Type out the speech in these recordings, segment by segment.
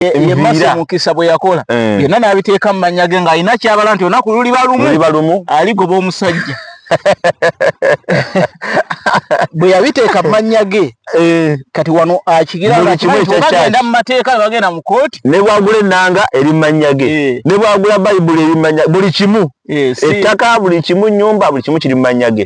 yemasa omukisa bwe yakola eh. byonna n'abiteeka mu mannya ge ng'alina kyabala nti olunaku luliba lumu aligoba omusajja bwe yabiteeka mu mannya ge eh. kati wano akigiragenda mu mateeka nebagenda mu kooti ne bwagula ennanga eri mu mannya ge eh. ne bwagula bayibuli eri mu mannya buli kimu ettaka buli kimu nyumba buli kimu kiri mu mannya ge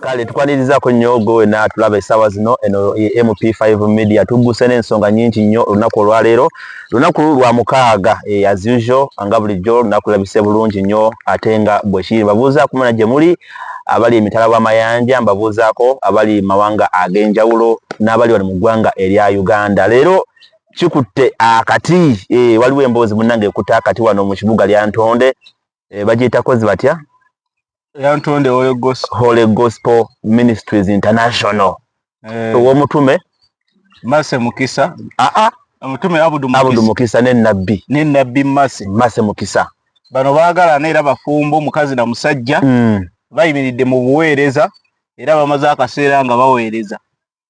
kale tukwanirizaako nnyo gwe wena tulaba essaawa zino eno e mp5 media tugguse n'ensonga nyingi nnyo olunaku olwaleero lunaku lwa mukaaga e, as usual nga bulijjo olunaku labise bulungi nnyo ate nga bwekiri babuuzaako muna gye muli abali emitala w'amayanja mbabuuzaako abali mawanga ag'enjawulo n'abali wano mu ggwanga erya uganda leero kikutte akati e, waliwo emboozi munnange ekutte akati wano mu kibuga lya ntonde e, bagiyita kozi batya yantonde holy gospel holy gospel ministries international eh owomutume mase mukisa a ah, a ah. omutume abudu mukisa abudu mukisa ne nabbi ne nabbi mase mase mukisa bano bagala na era bafumbo mukazi na musajja mm. bayimiridde mu buweereza era bamaze akaseera nga baweereza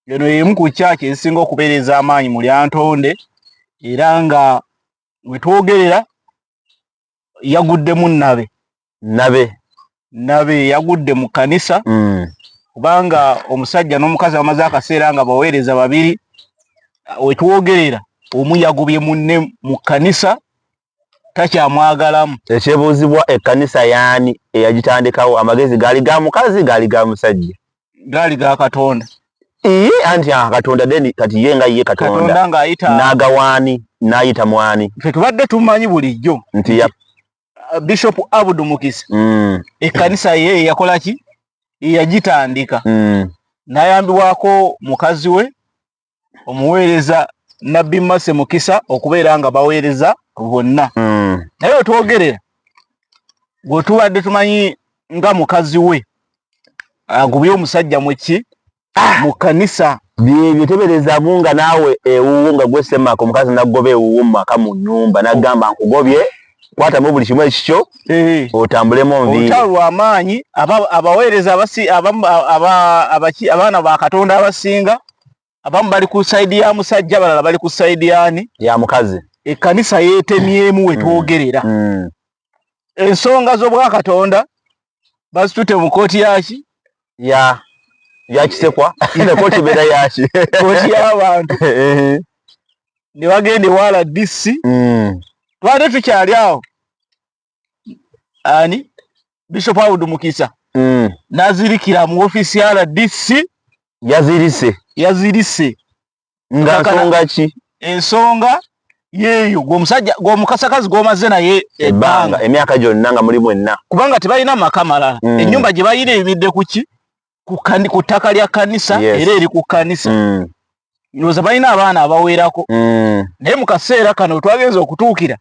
eno yemu ku kyaki ezisinga okubeereza amaanyi mu lyantonde era nga wetwogerera yaguddemu nabe nabe nabe yagudde mu kanisa mm. kubanga omusajja n'omukazi bamaze akaseera nga baweereza babiri wetwogerera omu yagubye munne mu kanisa takyamwagalamu ekyebuuzibwa ekkanisa yaani eyagitandikawo amagezi gaali ga mukazi gaali ga musajja gaali ga katonda ee anti aha katonda deni kati ye nga ye katonda nagawaani nayita mwani fe tubadde tumanyi bulijjo nti ya uh, bishop abud mukisa mm. ekkanisa ye yakola ki yagitandika mm. nayambibwako mukazi we omuweereza nabbi mase mukisa okubeera nga baweereza bonna mm. naye wetwogerera gwetubadde tumanyi nga mukazi we agubye omusajja mweki ah! mu kanisa byebyo teberezamu nga naawe ewuwo nga gwesemaka omukazi nagoba ewuwo mu maka mu nyumba nagamba nkugobye kwatamu buli kimu ekikyo eh. otambulemu nviolutalo lwamaanyi abaweereza abaana ba katonda abasinga abamu bali ku saidi ya musajja balala bali ku saidi yani ya mukazi ekkanisa yeetemyemu wetwogerera mm. mm. ensonga z'obwakatonda bazitute mu kooti yaki ya yakisekwa ne kooti beera yaki kooti y'abantu eh. ne bagenda ewaala dc mm. twade tukyali awo ani bishop awudu mukisa mm. nazirikira mu ofiisi ya rdc yazirise yazirise nga nsonga ki ensonga yeeyo gwomusajja gwomukasakazi gwomaze naye ebbanga emyaka gyonna nga muli mwenna kubanga tebalina maka malala mm. enyumba gye balina ebidde kuki ku ttaka lya kanisa era eri ku kanisa mm. ndowooza balina abaana abawerako mm. naye mu kaseera kano wetwagenza okutuukira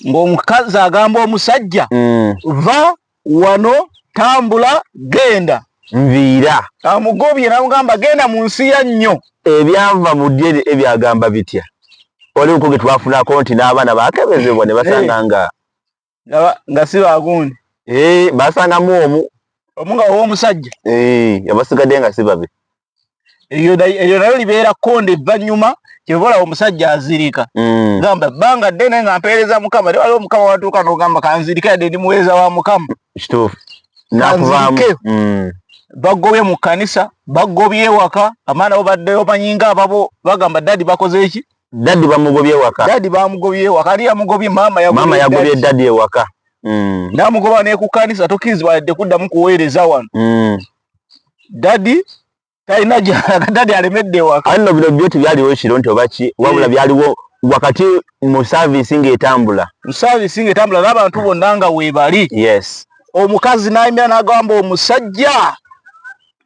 ng'omukazi agamba omusajja mm. va wano tambula genda nviira amugobye namugamba genda mu nsi ya nnyo ebyanva mu ddye ebyagamba bitya waliwo kuge twafunako nti n'abaana bakebezebwa ne basanga nga nga si bagundi eh, basangamu omu omu nga ow'omusajja eh, abasigadde nga si babe eryo nayo libeera konde evvanyuma kyevola omusajja azirika mm. gamba banga dene nga mpeereza mukama ne waliwo mukama watuuka nogamba kanzirike yadde ndi muweereza wa mukama kanzirike mm. bagobye mu kanisa bagobye ewaka amaana bo baddeyo banyinga ababo bagamba dadi bakoze eki dadi bamugobye ewaka dadi bamugobye ewaka ali yamugobye mama yagobye dadi ewaka mm. namugoba nekukanisa tokirizibwa yadde kuddamu kuweereza wano dadi talina gyalaga dadi alemedde ewaka anno bino byo tebyaliwo ekiro nti oba ki wabula eh. byaliwo wakati mu saavisi ng'etambula mu saavisi ng'etambula n'abantu bonna nga weebali yes omukazi n'ayimira n'agamba omusajja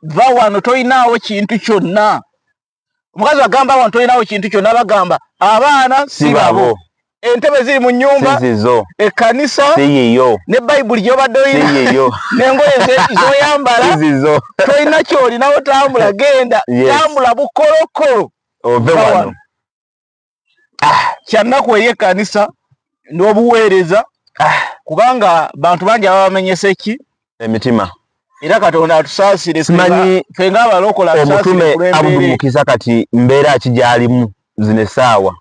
va wano tolinaawo kintu kyonna omukazi agamba awo ntolinawo kintu kyonna bagamba abaana si babo entebe ziri mu nyumba sizizo ekkanisa siyiyo ne bayibuli gyobadde oyina siyiyo nengoye zoyambala sizizo tolina kyolinawo tambula genda tambula bukolokolo ove wano kyannaku eri ekkanisa n'obuweereza kubanga bantu bangi ababamenyesa eki emitima era katonda atusaasire simanyi fe ngaabalokola omutume abdumukiza kati mbeera ki gyalimu zino essaawa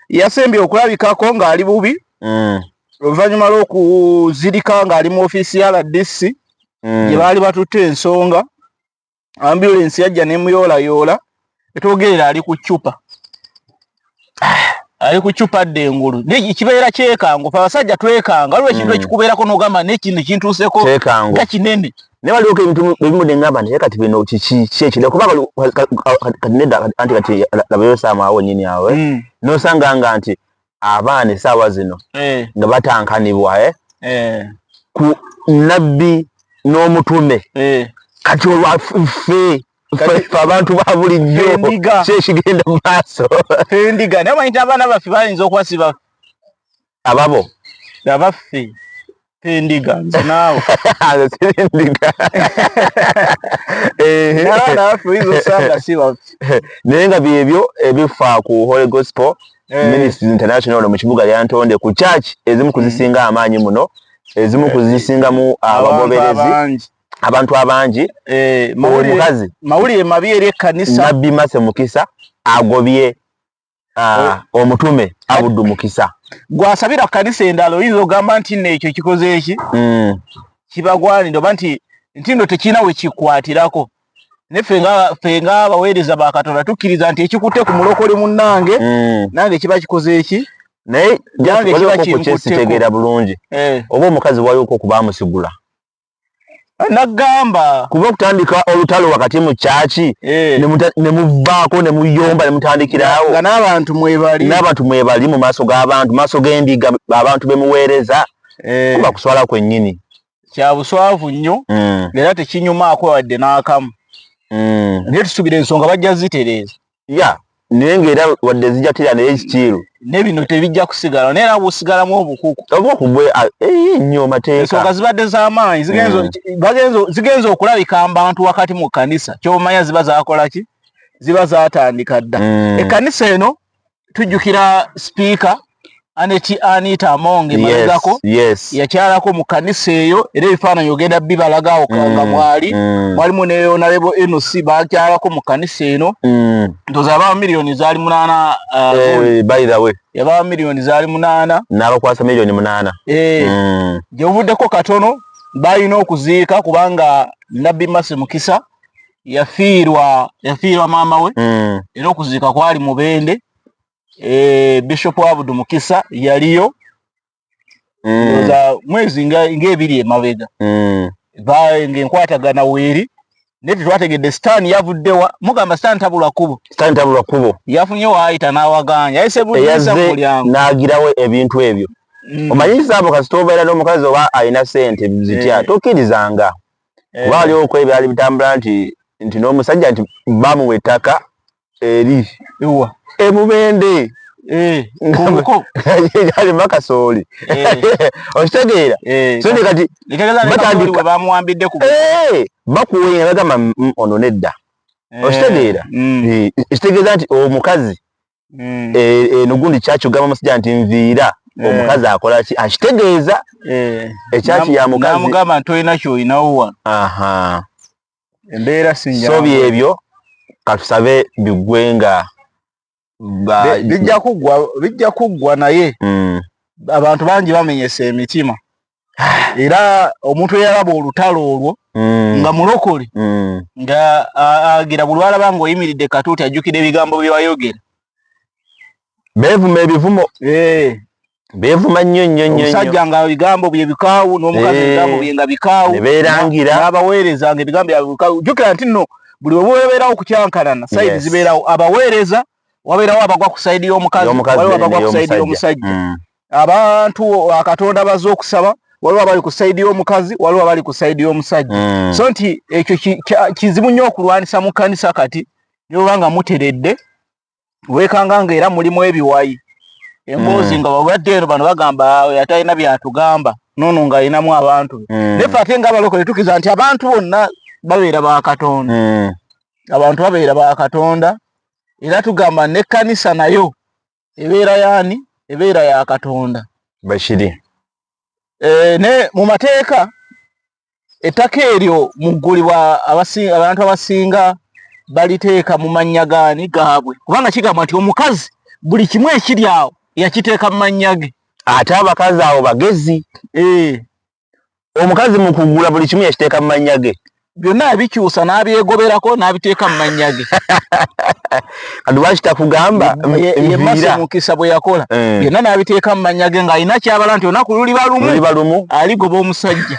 yasembye okulabikako ng'ali bubi mm. oluvannyuma lw'okuzirika ng'ali mu ofiisi ya rdc mm. gye baali batutte ensonga ambulensi yajja nemuyoolayoola etwogerera ali ku cupa ali ku cupa dda engulu kibeera kyekango fe abasajja twekanga waliwo ekintu hmm. ekikubeerako nogamba nekino ekintuuseko nga kinene naye waliwo ebintu ebimu nengamba nti kati bino kiki ki ekirala kuba kati nedda anti kati labayo saama awo nyini awe hmm. nosanga nga nti abaana esaawa zino eh. nga batankanibwa eh? Eh. ku nabbi n'omutume kati olwafe fe abantu ba bulijjo kyekigenda mu maaso endiga naye manyita abaana baffe bayinza okwasiba ababo abaffe endiga nze naawe naye nga byebyo ebifa ku holy gospel eh. ministries international mu kibuga lyantonde ku church ezimu kuzisinga mm. amaanyi muno ezimu kuzisingamu abagoberezi abantu abangi eh, omukazi mawulire mabi eri ekkanisa nabbi mase mukisa agobye ah, omutume abudu mukisa gwasabira kanisa endala oyinza ogamba nti no ekyo kikoze eki mm. kibagwanira oba nti nti no tekirina wekikwatirako naye fe nga abaweereza ba katonda tukkiriza nti ekikutte ku mulokole munnange mm. nange kiba kikoze eki naye jange kiba kinkuttekokyesitegeera bulungi eh. oba omukazi waliwoko okuba amusigula nagamba kuba okutandika olutalo wakati mu kyaki eh. ne muvaako ne muyomba ne mutandikirawo nga n'abantu mwebali n'abantu mwebali mu maaso g'abantu maaso g'endiga abantu be muweereza eh. kuba kuswala kwennyini kya buswavu nnyo hmm. era tekinyumaako wadde n'akamu hmm. naye tusuubira ensonga bajja zitereeza ya naye ng'era wadde zijatira naye kikiiru ne bino tebijja kusigala naye era busigalamu obukuku obukugwe nnyo mateeka ensonga zibadde z'amaanyi mm. zigenze okulabika mbantu wakati mu kkanisa kyomanya ziba zakola ki ziba zatandika dda mm. ekkanisa eno tujjukira sipiika aneti anita among emabegako yes, yes. yakyalako mu kanisa eyo era ebifaananyi ogenda bibalaga awo kanga mm, mwali mm. mwalimu mm. neyonalebo noc bakyalako mu kanisa eno mm. ntoza yabaa miliyoni zaali munaana uh, hey, eh, by the way yabaa miliyoni zaali munaana nabakwasa miliyoni munaana hey, eh, mm. gyebuvuddeko katono balina okuziika kubanga nabbi masi mukisa yafiirwa yafiirwa maama we mm. era okuziika kwali mubende eh, bishop abudu mukisa yaliyo mm. mwezi ngaebiri nga emabega mm. ngaenkwatagana weeri naye tetwategedde sitaani yavuddewa mugamba sitaani tabula kubo sitaani tabula kubo yafunye waayita n'awaganya yayisebuyaze n'agirawo ebintu ebyo mm. omanyisa abo kasita obeera n'omukazi oba alina sente zitya eh. tokkirizanga eh. kuba waliwo okwo ebyali bitambula nti nti n'omusajja nti bamuwa ettaka eri ewa ebubende eh, nkuko yali makasooli okitegeera so ne kati batandika bamuwambidde ku bakuwa nga bagamba mm, ono nedda okitegeera mm. ekitegeeza nti omukazi mm. e, eno gundi kyakyugamba musajja nti nviira Eh. omukazi akola ki akitegeeza eh. ekyaki ya mukazimugamba nti olina kyolinawo wano embeera sinyaso byebyo katusabe bigwe nga bijja kuggwa bijja kuggwa naye mm. abantu bangi bamenyesa emitima era omuntu eyalaba olutalo olwo mm. nga mulokole mm. nga agira bulwalaba nga oyimiridde katuuti ajjukira ebigambo byewayogera beevuma ebivumo eh. beevuma nnyo nnyo nnyo omusajja nga ebigambo bye bikaawu n'omukazi eh. ebigambo bye nga bikaawu nebeerangira n'abaweereza nga ebigambo byabwe bikaawu jjukira nti nno buli webeerawo okukyankanana sayidi zibeerawo abaweereza wabeerawo abagwa ku sayidi y'omukazi waliwo abagwa ku sayidi y'omusajja mm. abantu akatonda baze okusaba waliwo abali ku sayidi y'omukazi waliwo abali ku sayidi y'omusajja mm. so nti ekyo kizibu nnyo okulwanisa mu kkanisa kati nyoba nga muteredde wekanga nga era mulimu ebiwayi emboozi mm. nga wabadde eno bano bagamba atalina byatugamba nono nga alinamu abantu be mm. naye fe ate nga abalokole tukiza nti abantu bonna babeera ba katonda mm. abantu babeera ba katonda era tugamba nekkanisa nayo ebeera yaani ebeera ya katonda bakiri e, ne mu mateeka ettaka eryo muggulibwa abantu abasinga baliteeka mu mannya gaani gaabwe kubanga kigambwa nti omukazi buli kimu ekiri awo yakiteeka mu mannya ge ate abakazi awo bagezi eh. omukazi mu kugula buli kimu yakiteeka mu mannya ge byonna yabikyusa n'abyegoberako n'abiteeka mu mannya ge kati lwaki takugamba yemasa omukisa bwe yakola eh. byonna n'abiteeka mu mannya ge ng'alina kyabala nti olunaku luliba lumu aligoba omusajja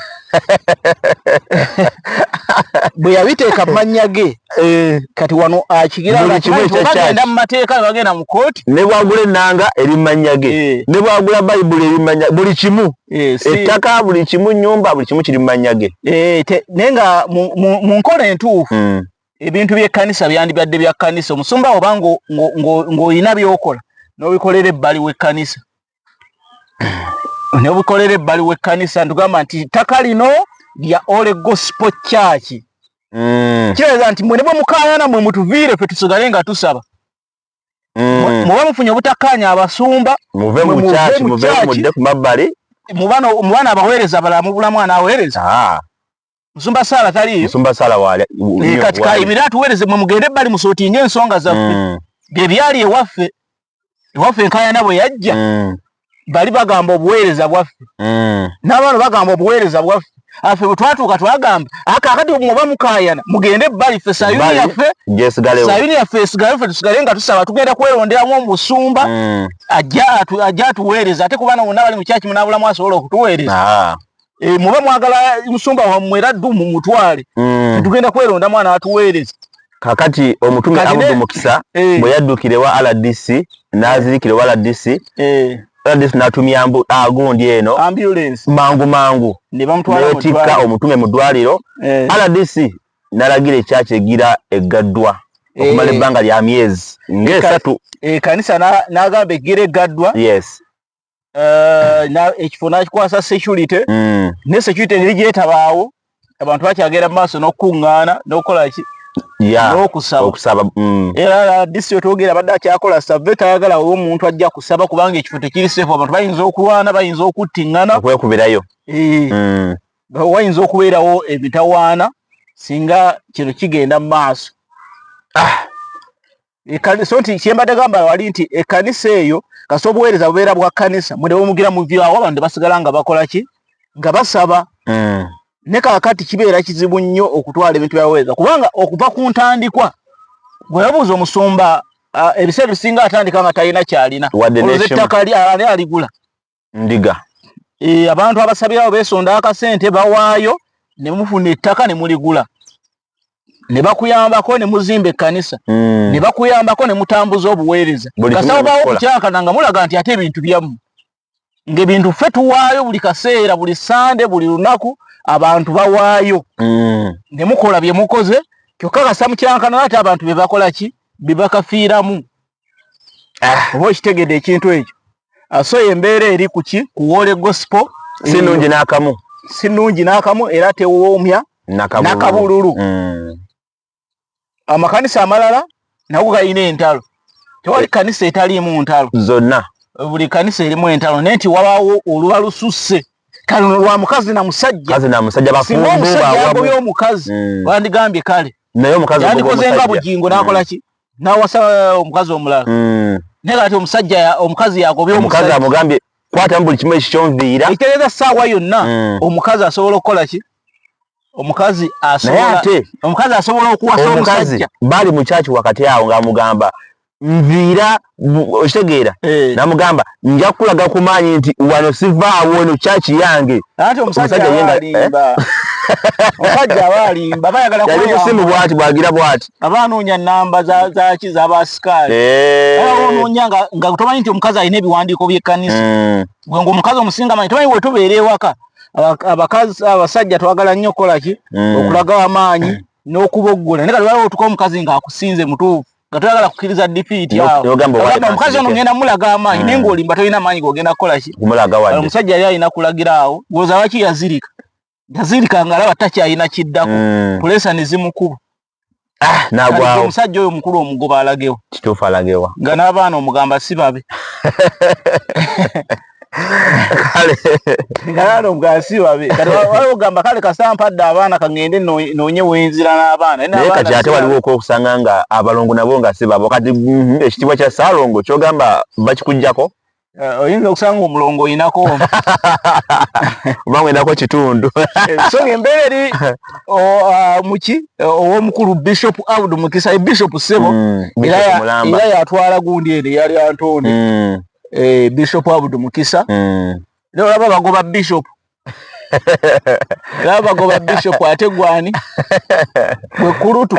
bwe yabiteeka mu mannya ge eh. kati wano akigirabagenda mu mateeka bagenda mu kooti ne bwagula ennanga eri mu mannya ge eh. ne bwagula bayibuli eri mu mannya buli kimu ettaka buli kimu nnyumba buli kimu kiri mu mannya ge naye nga mu nkola entuufu hmm. ebintu by'ekkanisa byandibadde bya kkanisa omusumba oba ng'olina by'okola n'obikolera ebbali w'ekkanisa n'obikolera ebbali w'ekkanisa ntugamba nti ttaka lino lya ole gospel church mm. kiraza nti mwene bwe mukaayana mwe mutuviire fe tusigale nga tusaba mm. muba mufunye obutakkaanya abasumba muve mu church muve mudde ku mabbali mubano mubano abaweereza balala mubulamu anaaweereza ah. musumba sala taliyo musumba sala wale e, kati kayimira tuwereze mwe mugende bali musotinge ensonga zaffe mm. bye byali ewaffe ewaffe enkayana bwe yajja mm. bali bagamba obuweereza bwaffe mm. n'abaana bagamba obuweereza bwaffe afe bwe twatuuka twagamba akakati omuba mukayana mugende ebbali ffe sayuni yaffe sayuni yaffe esigale ffe tusigale nga tusaba tugenda kweronderamu omusumba mm. ajja atuweereza ate kubaana wonna bali mukyakimu n'abulamu asobola okutuweereza ah. e, muba mwagala musumba wammwe era ddu mu mutwale mm. tetugenda kweronda mwana atuweereza kakati omutume abudu mukisa eh. bwe yaddukira ewa rdc n'azirikira ewa rdc eh. rdc n'atumya mbu agundi ah, eno mangu mangu netikka omutume mu ddwaliro eh. rdc n'alagira ekyaki egira eggaddwa okumala ebbanga lya myezi ng'esatu ekanisa n'agamba egira eggaddwa eh, ekifo nakikwasa security mm. ne security neri gyetabaawo abantu bakyagenda mu maaso n'okukuŋŋaana n'okukola ki n'okusaba mm. era disi otwogera abadde akyakola save tayagala oba omuntu ajja kusaba kubanga ekifo tekiri sefu abantu bayinza okulwana bayinza okuttiŋŋana okwekubirayo eh. mm. wayinza okubeerawo emitawaana singa kino kigenda mu maaso ah. so nti kyembadde gamba wali nti ekkanisa eyo kasi obuweereza bubeera bwa kkanisa mwe ne bumugira muvyawo abantu basigala nga bakola ki nga basaba mm. ne kakati kibeera kizibu nnyo okutwala ebintu byaweereza kubanga okuva ku ntandikwa gwe yabuuza omusumba ebiseera ebisinga atandika nga talina kyalina ettaka ali aligula ndiga e, abantu abasabirawo besonda akasente bawaayo ne mufuna ettaka ne muligula ne bakuyambako ne muzimba ekkanisa mm. ne bakuyambako ne mutambuza obuweereza kasawo bawo okukyakana nga mulaga nti ate ebintu byammwe ng'ebintu ffe tuwaayo buli kaseera buli sande buli lunaku abantu bawaayo mm. ne mukola bye mukoze kyokka kasamukyankana ate abantu be bakola ki bye bakafiiramu ah. oba okitegedde ekintu ekyo ah, so embeera eri kuki kuwoole gosipo sinungi nakamu sinungi nakamu era tewoomya nakabululu hmm. amakanisa amalala nago galina entalo tewali kanisa etaliimu ntalo zonna buli kanisa erimu entalo naye nti wabaawo oluba lususse kale no lwa mukazi na musajja kazi na musajja bafumbo ba wabu yo mukazi mm. bandigambye kale nayo mukazi bwo mukazi yandikoze nga bujingo nakola mm. ki nawasa uh, omukazi omulala mm. naye kati omusajja omukazi yagobye omukazi amugambye kwata mu buli kimu ekikyonviira ekitegeeza saawa yonna mm. omukazi asobola okukola ki omukazi asobola omukazi asobola okuwasa omusajja bali mu kyaki wakati awo ng'amugamba nviira okitegeera eh. namugamba nja kulaga ku maanyi nti wano sivaawo eno kyaki yange omusajjaomusajjaalimbaayagalakusimu eh? bwati bwagira bwati aba anoonya namba zaki zabasikaali eh. onoonya nga tomanyi nti omukazi alina ebiwandiiko byekkanisa hmm. gwe ngaomukazi omusinga manyi tomanyi wetubeera ewaka abakazi abasajja twagala nnyo okukolaki hmm. okulaga amaanyi n'okuboggola naye kati waliwo otuka omukazi ng'akusinze mutuufu nga toyagala kukkiriza dipiiti awomukazi ono ngenda mulaga amaanyi hmm. naye ngaolimba tolina amaanyi gogenda kukola ki omusajja yali alina kulagira awo woza lwaki yazirika yazirika nga alaba takyalina kiddako hmm. pulesa ne zimukuba ah, nagwawo omusajja oyo omukulu omugoba alagewo kituufu alagewa nga n'abaana omugamba si babe kale ngalaano bwasi babi kati waliwo gamba kale kasampadde abaana kangende noonye wenzira n'abaana naye kati ate waliwo okwokusanga nga abalongo nabo nga si babo kati mhm, ekitiibwa kya saalongo kyogamba bakikugjako eh, oyinza okusanga omulongo oyinako obanga oyinako kitundu eh, so ngaembeera eri ah, muki owomukulu bishop aud mukisa ebishop sebo mm, era yatwala gundi eri yali antooni mm. eh bishop abudu mukisa mm. leo laba bagoba bishop laba bagoba bishop ate gwani gwe kulutu